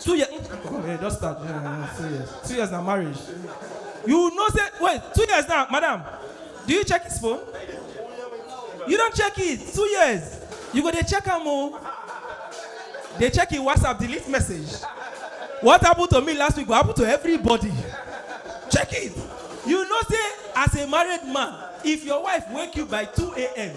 two years okay just start yeah, two years two years na marriage you know say wait two years now madam do you check his phone you don check it two years you go dey check am o dey check him whatsapp delete message what happen to me last week go happen to everybody check it you know say as a married man if your wife wake you by 2 a.m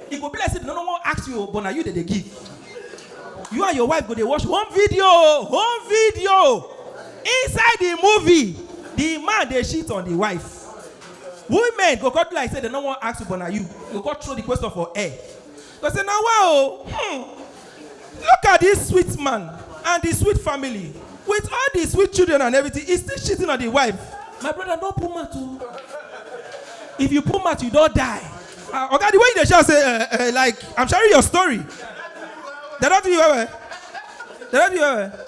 E go be like say dem no no wan ask you o but na you dem dey give. You and your wife go dey watch home video o home video. Inside the movie, the man dey shit on the wife. Women go come do like say dem no wan ask you but na you. You go come throw the question for air. You go say na wa o hmm. Look at this sweet man and the sweet family with all the sweet children and everything he still cheating on the wife. My brother no put mouth o. If you put mouth you don die. Ah, Oga the way you dey shout say eh, eh, like I'm sharing your story. They don do you well well. They don do you well well.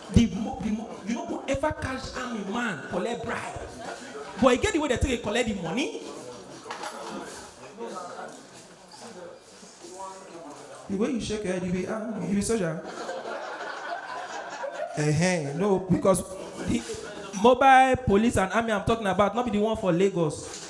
the mo the mo you no go ever catch army man collect bribe but e get the way dem take dey collect the money the way you shake your head you be ah you be soldier uh-huh. no because the mobile police and army i'm talking about no be the one for lagos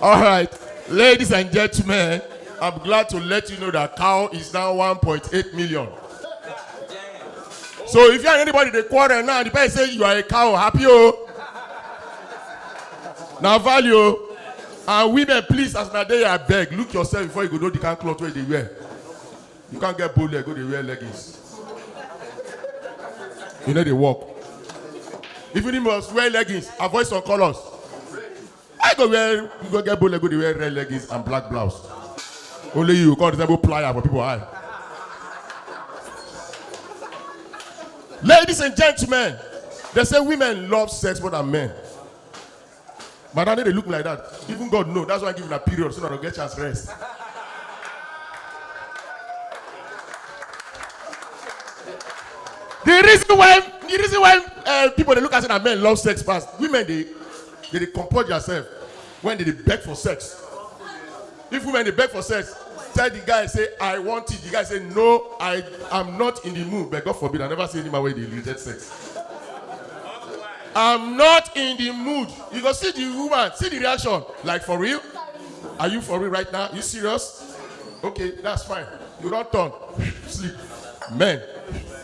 All right, ladies and gentlemen, I'm glad to let you know that cow is now 1.8 million. So if you and anybody they quarrel now, the person say you are a cow, happy oh. Now value oh. and women please as na dey I beg look yourself before you go know the kind cloth wey dey wear. You can't get bow leg, go dey wear leggings. You know they walk. If you must wear leggings, avoid some colors. I go wear, you go get bow leg, go dey wear red leggings and black blouse. Only you, God resemble plier for people eye. Ladies and gentlemen, they say women love sex more than men. Madam, no dey look me like that. Even God know. That's why I give una period so una go get chance rest. the reason why the reason why uh, people dey look at say na men love sex pass women dey dey dey comport their self when they dey beg for sex If women dey beg for sex, tell the guy say I want it, the guy say no I am not in the mood but God forbid I never see any man wey dey reject sex. I'm not in the mood. You go see the woman, see the reaction. Like for real? Are you for real right now? You serious? Okay, that's fine. You don't turn. Sleep. Men.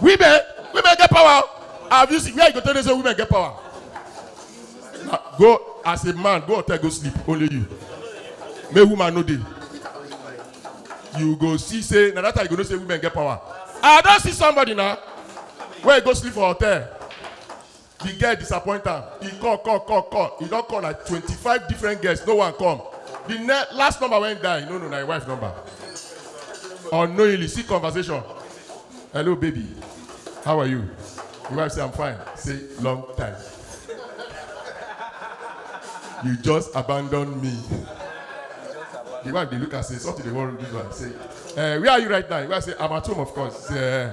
women women get power have you seen where you go tell me say women get power na go as a man go hotel go sleep only you make woman no dey you go see say na that time you go know say women get power i don see somebody na wey go sleep for hotel Di girl disappoint am, e call call call call, e don call like twenty five different girls no one come, di ne last number wey im dial e no know na im wife number, unknowingly see conversation, hello baby how are you, im wife say I'm fine say long time you just abandon me, di wife dey look am say something dey worry dis one say um where are you right now, im wife say I'm at home of course say um.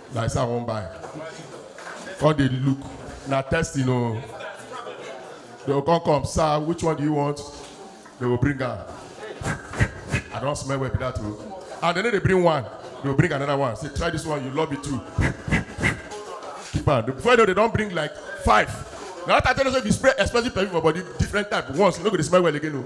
like say I wan buy. Come dey look, na testing o. They go come come, sir, which one do you want? They go bring am. I don smell well be that o. And they no dey bring one, they go bring another one. Say try this one, you love it too. Keep am. Before you know, they don bring like five. Na that time I tell you say if you spray expensive perfume for body, different type once, you no go dey smell well again o.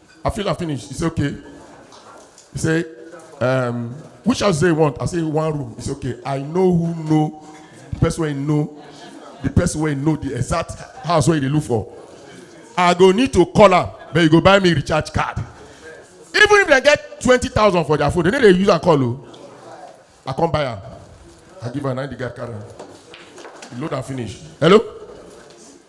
I feel I finish. He say, okay. He say, um, which house they want? I say, one room. He say, okay. I know who know the person wey know the person wey know the exact house wey you dey look for. I go need to call am, but you go buy me recharge card. Even if they get twenty thousand for their phone, they no dey use am call o. I come buy am. I give am na him the guy carry am. He load am finish. Hello?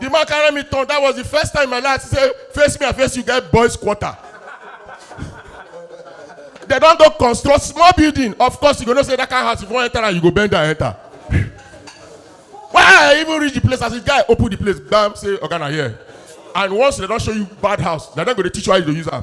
The man carry me turn. That was the first time in my life I see say face me and face you get boys quarter. They don go construct small building. Of course, you go know say that kind house if you wan enter am, you go bend down enter. When I even reach the place, as the guy open the place, bam, say oga na here. And once they don show you bad house, na dem go dey teach you how you dey use am.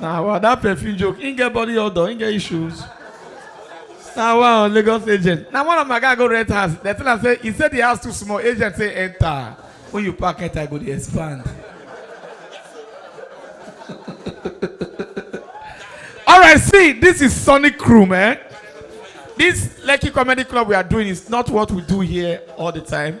na wa that perfume joke him get body odor him get issues na wa on lagos agent na one of my guy go rent house dem tell am say he say the house too small agent say enter when you pack enter e go dey expand all right see this is sonic room eh this lekki comedy club we are doing is not what we do here all the time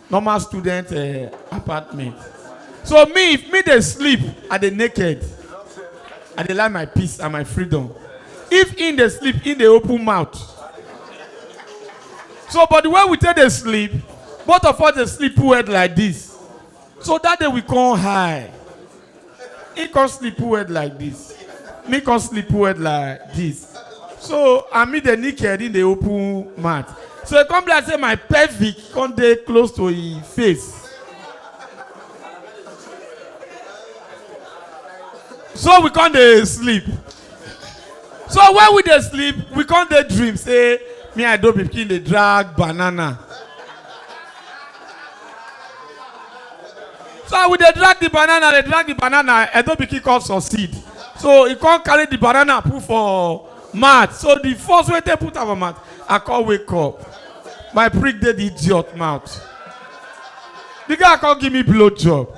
normal student uh, apartment so me if me dey sleep i dey naked i dey like my peace and my freedom if him dey sleep him dey open mouth so but the way we take dey sleep both of us dey sleep put head like this so that day we come high He come sleep who head like this. Me come sleep who head like this. So I mean the naked in the open mouth. So he come be like say my pelvic come dey close to him face. So we come dey sleep. so when we dey sleep we come dey dream say me and dobi pikin dey drag banana so we dey drag the banana dey drag the banana edo pikin come succeed so he come carry the banana put for mat so the first wey take put am for mat i come wake up my prick dey the idiot mouth the guy come give me blow job